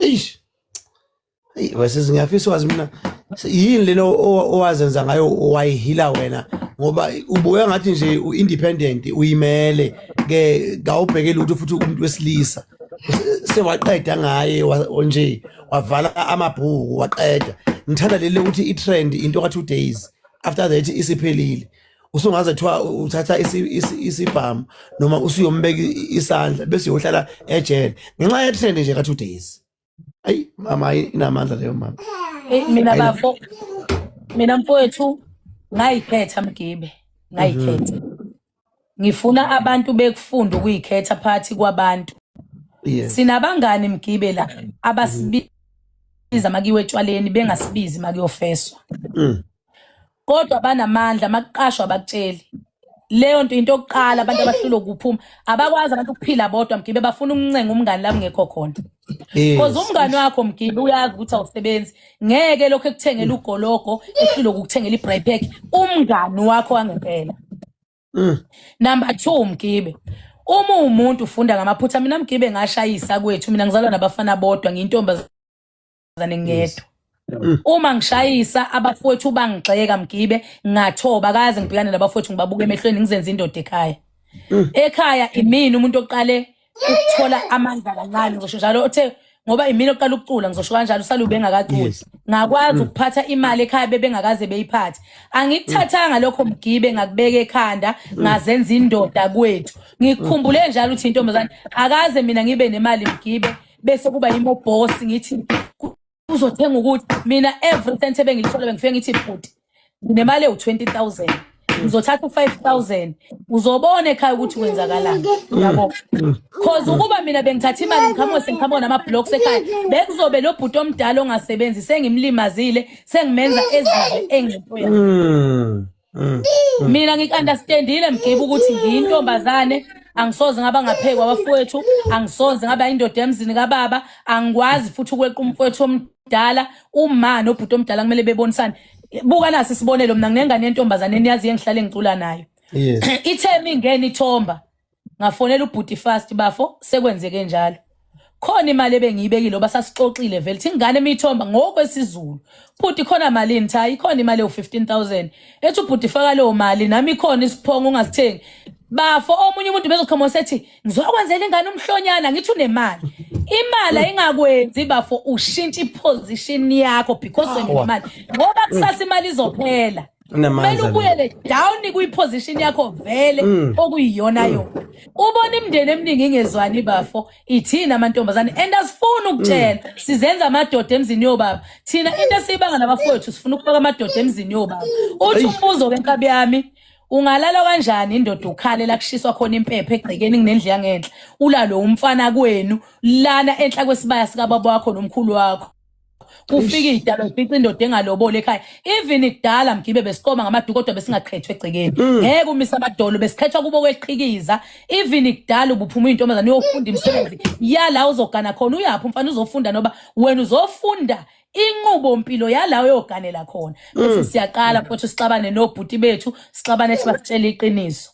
eish Hey wesisi ngiyafisa wazi mina yini lena owazenza ngayo wayihila wena ngoba ubuya ngathi nje uindependent uyimele ke kawubhekeli ukuthi futhi umuntu wesilisa sewaqeda ngaye nje wavala amabhuku waqeda ngithanda leli ukuthi i-trend into ka-two days after that isiphelile usungaze kuthiwa uthatha isibhamu noma usuyombeka isandla bese uyohlala ejele ngenxa yetrend nje ka-two days ayi mama inamandla leyo mama eh, mina bafo mina mfowethu ngayikhetha mgibe ngayikhetha mhm. ngifuna abantu bekufunda ukuyikhetha phakathi kwabantu sinabangani mgibe la abasibiza makiwe etshwaleni bengasibizi makuyofeswa mm. kodwa banamandla makuqashwa abakutsheli leyo nto into yokuqala abantu abahlulwa ukuphuma abakwazi abantu ukuphila bodwa mgibe bafuna ukuncenga umngani la kungekho khona because umngani wakho mgibe uyazi ukuthi awusebenzi ngeke lokho ekuthengela ugologo ehlulwa ukukuthengela i-bry pack umngani wakho wangempela mm. number two mgibe uma uwumuntu ufunda ngamaphutha mina mgibe ngashayisa kwethu mina ngizalwa nabafana bodwa ngiyintombazane wesifazane ngedwa mm. uma ngishayisa abafowethu bangigxeka mgibe ngathoba kaze ngibhekane nabafowethu ngibabuka emehlweni ngizenza indoda ekhaya mm. ekhaya imini umuntu oqale ukuthola amandla kancane ngisho njalo othe ngoba imini oqala ukucula ngizosho kanjalo usale ubengakaculi ngakwazi mm. ukuphatha imali ekhaya bebengakaze beyiphathe angikuthathanga lokho mgibe ngakubeka ekhanda mm. ngazenza indoda kwethu ngikhumbule njalo ukuthi intombazane akaze mina ngibe nemali mgibe bese kuba yimo boss ngithi uzothenga ukuthi mina every cent ebengilithola bengifike ngithi bhuti nemali ewu-20000 uzothatha u-5000 uzobona ekhaya ukuthi kwenzakalani yabo cause ukuba mina bengithatha imali ngikhamuke sengikhamuke nama-blocks ekhaya bekuzobe lo bhuti omdala ongasebenzi sengimlimazile sengimenza ezizwe engento yakhe Mm. Mm. mina ngikunderstandile mgibe ukuthi ngiyintombazane angisoze ngaba ngaphekwa abafowethu angisoze ngaba indoda emzini kababa angikwazi futhi ukweqa umfowethu omdala uma nobhuti omdala kumele bebonisane buka nasi isibonelo mina nginengane yentombazane eniyazi engihlale ngicula nayo ithe mingeni ithomba ngafonela ubhuti fast bafo sekwenzeke njalo khona imali ebengiyibekile oba sasixoxile vele thi ingane emithomba ngokwesizulu bhuti khona malini cha ikhona imali ewu-15000 ethi ubhuti faka leyo mali nami ikhona isiphongo ungazithengi bafo omunye umuntu bezoqhoma sethi ngizokwenzela ingane umhlonyana ngithi unemali imali ayingakwenzi bafo ushintsha iposition yakho because unemali ngoba kusasa imali izophela kumele ubuyele down kwiposition yakho vele mm. okuyiyona mm. yona ubona imndeni eminingi ingezwani bafo ithina amantombazane and asifuni ukutshela mm. sizenza amadoda emzini yobaba thina into esiyibanga nabafowethu sifuna ukubeka amadoda emzini yobaba uthi umbuzo wenkabi yami ungalala kanjani indoda ukhale la kushiswa khona impepha egcekeni kunendlu yangenhla ulalo umfana kwenu lana enhla kwesibaya sikababa wakho nomkhulu wakho kufika idalo fica indoda engalobole ekhaya even kudala mgibe besikoma ngamaduku kodwa besingakhethwe egcekeni mm. ngeke umisa amadolo besikhethwa kubo kweqhikiza even kudala ubuphuma intombazana uyofunda imisebenzi yala uzogana khona uyaphi umfana uzofunda noba wena uzofunda inqubo mpilo yalawo yoganela khona bese mm. siyaqala futhi sixabane nobhuti bethu sixabane sibasitshela iqiniso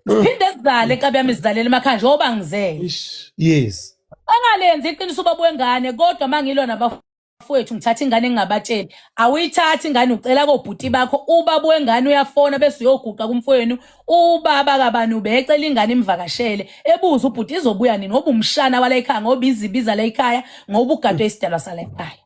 ziphinde zizale nkabi yami zizalela emakhaya njengoba ngizele yes angalenzi iqiniso ubaba wengane kodwa uma ngilwa nabafowethu ngithatha ingane engingabatsheli awuyithathi ingane ucela kobhuti bakho ubaba wengane uyafona bese uyoguqa kumfowenu ubaba kabani ubecela ingane imvakashele ebuza ubhuti izobuya nini ngoba umshana wala ekhaya ngoba izibiza la ekhaya ngoba ugadwe isidalwa sala ekhaya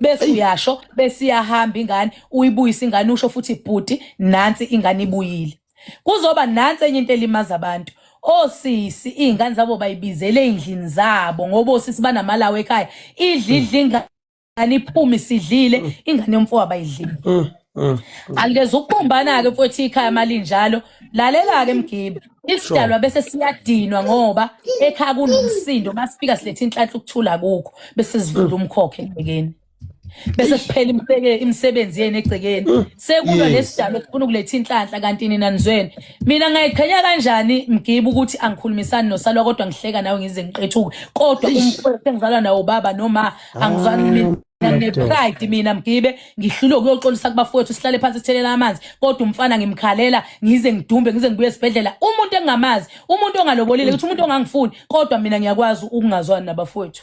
bese uyasho bese iyahamba ingane uyibuyisa ingane usho futhi bhuti nansi ingane ibuyile kuzoba nansi enye into elimaza abantu osisi iy'ngane zabo bayibizele ey'ndlini zabo ngoba osisi banamalawo ekhaya idla idla ingane iphume isidlile mm. ingane yomfowa bayidlile mm, mm, alikeze ukubumbana-ke futhi ikhaya malinjalo lalela-ke mgibe isidalwa bese siyadinwa ngoba ekhaya kunomsindo masifika siletha inhlanhla ukuthula kukho bese sivula umkhokhe ekubekeni bese kuphela imseke imisebenzi yenu egcekeni mm. sekulwa yes. lesidalo sifuna ukuletha inhlanhla kanti nina nizweni mina ngayiqhenya kanjani mgibe ukuthi angikhulumisani nosalwa kodwa ngihleka nawe ngize ngiqethuke kodwa umfowethu engizalwa nawo baba noma angizwani ah, mina nginepride mina mgibe ngihlule ukuyoxolisa kubafowethu sihlale phansi sithelele amanzi kodwa umfana ngimkhalela ngize ngidumbe ngize ngibuye esibhedlela umuntu engingamazi umuntu ongalobolile ukuthi umuntu ongangifuni kodwa mina ngiyakwazi ukungazwani nabafowethu